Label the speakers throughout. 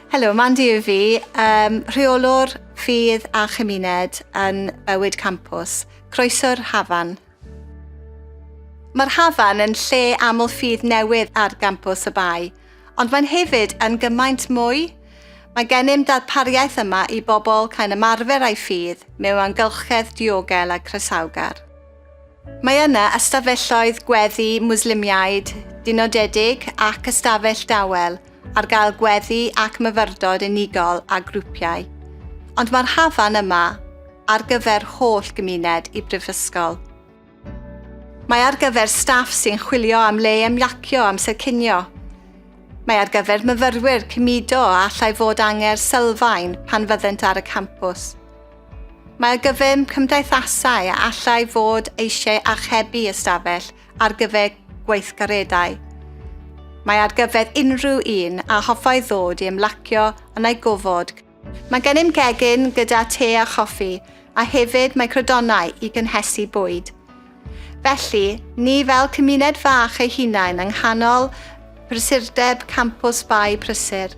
Speaker 1: Helo, Mandy yw fi, um, rheolwr ffydd a chymuned yn bywyd campus. Croeso'r Hafan. Mae'r Hafan yn lle aml ffydd newydd ar gampus y Bai, ond mae'n hefyd yn gymaint mwy. Mae gennym darpariaeth yma i bobl cael ymarfer a'i ffydd mewn amgylchedd diogel a croesawgar. Mae yna ystafelloedd gweddi Mwslimiaid dynodedig ac ystafell dawel ar gael gweddi ac myfyrdod unigol a grwpiau. Ond mae'r hafan yma ar gyfer holl gymuned y Brifysgol. Mae ar gyfer staff sy'n chwilio am le ymlacio amser cinio. Mae ar gyfer myfyrwyr cymudo a allai fod anger sylfaen pan fyddent ar y campws. Mae ar gyfer cymdeithasau a allai fod eisiau archebu ystafell ar gyfer gweithgareddau. Mae ar gyfer unrhyw un a hoffai ddod i ymlacio yn ei gofod. Mae gennym gegin gyda te a choffi, a hefyd mae crydonau i gynhesu bwyd. Felly, ni fel cymuned fach ei hunain yng nghanol prysurdeb campws Bae Prysur.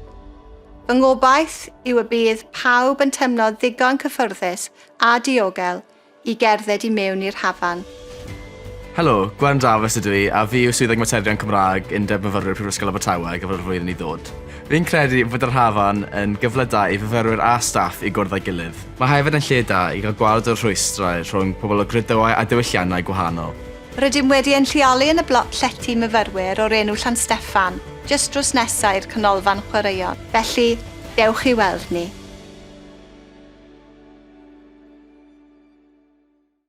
Speaker 1: Fy ngobaith yw y bydd pawb yn teimlo ddigon cyffyrddus a diogel i gerdded i mewn i'r hafan. Helo,
Speaker 2: Gwen Dafis ydw i a fi yw Swyddog Materion Cymraeg Undeb Myfyrwyr Prifysgol Abertawe ar gyfer y flwyddyn i ddod. Fi'n credu fod yr hafan yn gyfle da i fyfyrwyr a staff i gwrdd â'i gilydd. Mae hefyd yn lle da i gael gweld y rhwystrau rhwng pobl o gredydau a diwylliannau gwahanol. Rydym wedi ein
Speaker 1: lleoli yn y blot llety myfyrwyr o'r enw Llan Steffan, jyst drws nesa i'r canolfan chwaraeon. Felly, dewch i weld ni.